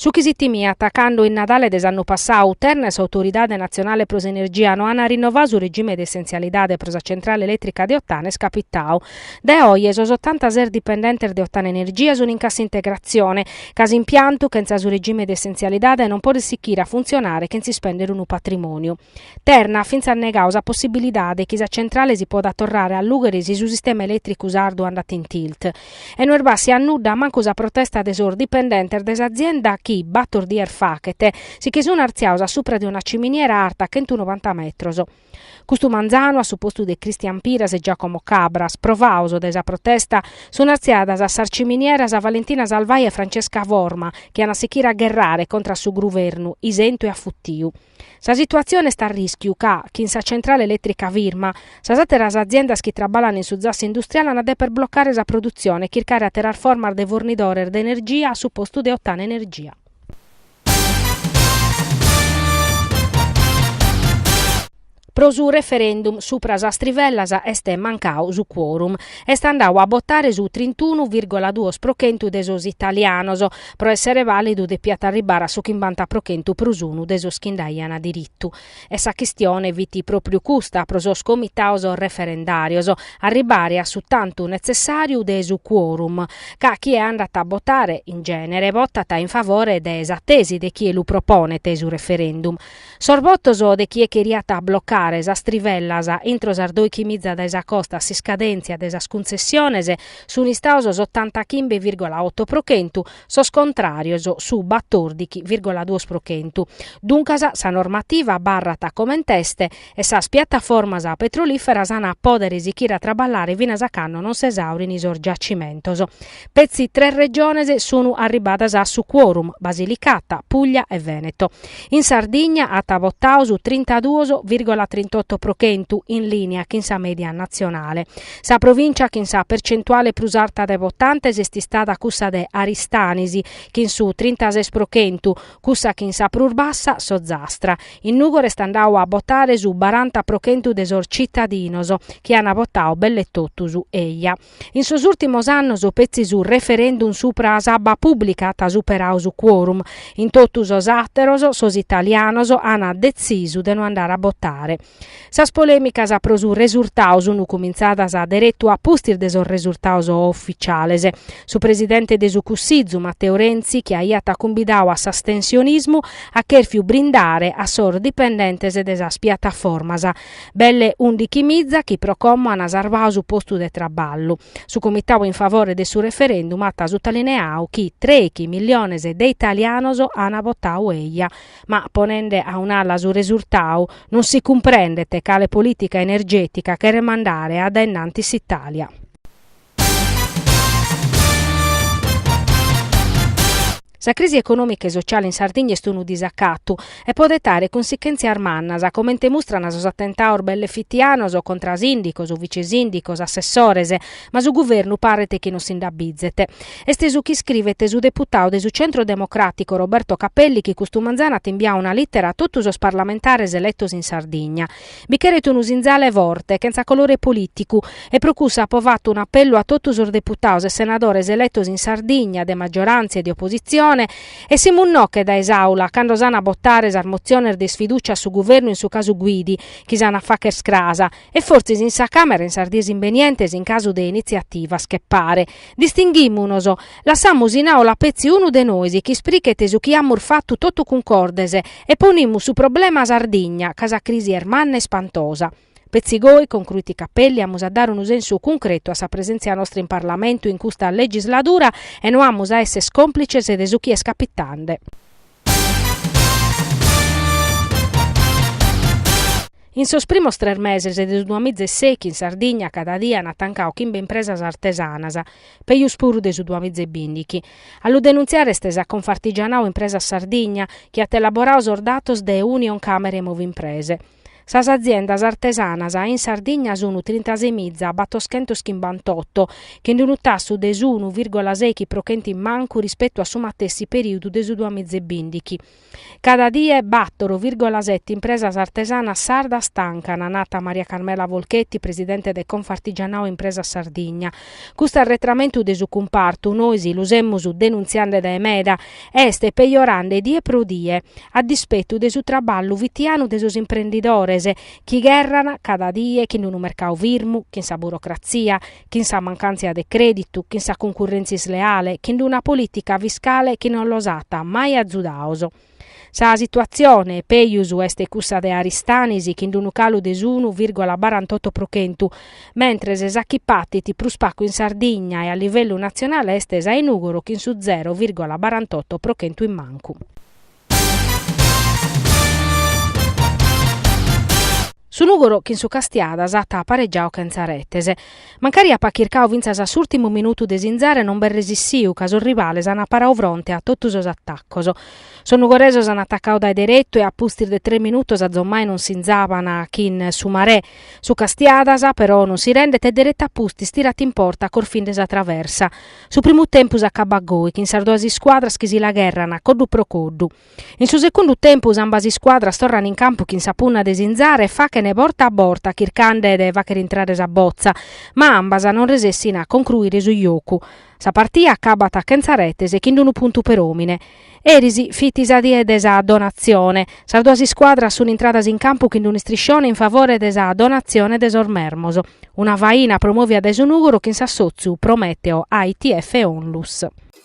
Su chi si timiat, cando in Nadale de s'annu passau, Terna e s'Autoridade natzionale pro s'energia no ant rinnovau su regime de essenzialidade pro sa centrale elètrica de Ottana est capitau. Dae oje sos otantases dipendentes de Ottana Energia sunt in cassa integratzione, ca s'impiantu, chentza su regime de essenzialidade, non podet sichire a funtzionare chentz' ispèndere unu patrimòniu. Terna at fintzas negau sa possibilidade chi sa centrale si potat torrare a allùghere si su sistema elètricu sardu andat in tilt. E no est bàssia a nudda mancu sa protesta de sos dipendentes de s'azienda chi, bator dies fachet, si che sun artziaos a supra de una ciminiera arta chentu novanta metros. Custu manzanu, a su postu de Cristian Piras e Giacomo Cabras, provaos dae sa protesta, sun artziadas a sas ciminieras Valentina Salvai e Francesca Forma, chi an a sichire a gherrare contra a su gruvernu, isentu e afuttiu. Sa situatzione est a rìschiu ca, chin sa centrale elètrica firma, sas àteras aziendas chi traballan in su zassu industriale an a dèpere blocare sa produtzione e chircare àteras formas de fornidores de energia a su postu de Ottana Energia. Pro su referendum supra sas trivellas est mancau su quorum. Est andau a botare su trintunu virgola duos pro chentu de sos italianos. Pro essere vàlidu depiat arribbare a su chimbanta pro chentu prus unu de sos chi nd'aian diritu. E sa chistione fit pròpriu custa pro sos comitaos referendàrios, arribbare a su tantu netzessàriu de su quorum. Ca chie andat a botare, in gènere, botat in favore de sa tesi de chie lu proponet su referendum. Sos botos de chie cheriat blocare sas trivellas intro sas dòichi miza dae sa costa a s'iscadèntzia de sas cuntzessiones sunt istaos s'otantachimbe vìrgola oto pro chentu, sos contràrios su batòrdichi vìrgola duos pro chentu. Duncas sa normativa abarrat coment'est e sas piataformas petrolìferas ant a pòdere sichire a traballare finas a cando non s'esàurin sos giacimentos. Petzi tres regiones sunu arribadas a su quorum, Basilicata, Puglia e Veneto. In Sardigna at votau su trintaduos virgola trintotto pro chentu, in lìnia chin sa mèdia natzionale. Sa provìncia chin sa percentuale prus arta de votantes est istada cussa de Aristanis, chin su trintases pro chentu, cussa chin sa prus bassa, S'Ozastra. In Nùgoro est andau a botare su baranta pro chentu de sos tzitadinos, chi ant botau belle totus eja. In sos ùrtimos annos petzi su referendum supra a s'abba pùblica at superau su quorum, in totu sos àteros sos italianos ant detzisu de no andare a botare. Sas polèmicas pro su resurtau sunt cumintzadas deretu a pustis de sos resurtados oficiales. Su presidente de su Cussizu, Matteo Renzi, chi aiat cumbidau a s'astensionismu, at chèrfiu brindare a sos dipendentes de sas piataformas Belle undichi miza chi pro como ant sarvadu su postu de traballu. Su comitau in favore de su referendum at sutaliniau chi trèighi milliones de italianos an votau eia. Ma ponende a un'ala su resurtau, non si cumprendet cale politica energetica cheret mandare a dae innantis s'Italia. Sa crisi econòmica e sociale in Sardigna est unu disacatu e podet àere cunsichèntzias mannas, comente mustran sos atentados bellefittianos contra a sìndicos, vicesìndicos, assessores, ma su guvernu paret chi non si nd'abizet. Est su chi iscrivet su deputadu de su Centro Democràtico Roberto Capelli chi custu manzanu at imbiadu una lìtera a totu sos parlamentares eletos in Sardigna, Bi cheret unu sinzale forte, chentza colore polìticu, e pro cussu apo fatu un'apellu a totu sos deputados e senadores eletos in Sardigna, de maggioràntzia e de opositzione, essimus·nos·che dae s'Àula cando s'an a botare sas motziones de isfidùcia a su Guvernu in su casu Guidi, chi s'an a fagher cras, e fortzis in sa Càmera in sas dies imbenientes in casu de initziativas che pare, distinghimunos, Lassamus in aula petzi unu de nois chi isprichet su chi amus fatu totu cuncordes e ponimus su problema Sardigna, ca sa crisi est manna e ispantosa. Petzi goi, concruit Cappelli, amus a dare unu sensu cuncretu a sa presentzia nostra in Parlamentu in custa legisladura e no amus a esser complices de su chi est capitande. In sos primos tres meses de su duamiza e sèighi in Sardigna cada die an tancadu chimbe impresas artesanas, pejus puru de su duamiza e bindighi. A lu denuntziare est sa Confartigianau Impresas Sardigna chi at elaboradu sos datos de Unioncamere e Movimprese. Sas aziendas artesanas in Sardigna sunu trintaseimiza battoschentos chimbantotto, chin unu tassu de s'unu virgola sèighi pro chentu in mancu rispetu a su matessi perìudu de su duamiza e bìndighi. Cada die bàtoro virgola seti impresas artesanas sardas tancana, nat Maria Carmela Folchetti, presidente de Confartigianao Impresas Sardigna, Custu arretramentu de su cumpartu, nois lu semus denuntziande dae meda, est pejorande die pro die, a dispetu de su traballu fitianu de sos imprendidores, chi gherran cada die chin unu mercadu firmu, chin sa burocratzia, chin sa mancàntzia de crèditu, chin sa cuncurrèntzia isleale, chin una polìtica fiscale chi non los at mai azudados. Sa situatzione pejus est cussa de Aristanis chin d'unu calu de s'unu virgola barantotto pro chentu, mentres sa chi patit prus pagu in Sardigna e a livellu natzionale est sa 'e Nùgoro chin su zero virgola barantotto pro chentu in mancu. Su Nùgoro chin su Castiadas at aparegiadu chentza retes. Mancari apat chircadu fintzas a s'ùrtimu minutu de sinzare non b'est resessiu ca sos rivales ant paradu fronte a totu sos atacos. Sos nugoresos ant atacau dae deretu e a pustis de tres minutos azommai non sinzaban chin su Marè. Su Castiadas, però, non si rendet e deretu a pustis tirat in porta corfende sa traversa. Su primu tempus acabat goi chin sas duas iscuadras chi si l'agherrana coddu pro coddu. In su segundu tempus ambas iscuadras torran in campu chin sa punna de sinzare e fachene borta a borta chircande de fachere intrare sa botza, ma ambas non resessin a concruire su jocu. Sa partia acabat chentza retes e chin unu puntu per omine. Eris fit sa die de sa Donatzione. Sas duas iscuadras sun intradas in campu chin unu istriscione in favore de sa Donatzione de sos Mermos. Una faina promovia dae su Nugoro chin s'assotziu Prometeo AITF Onlus.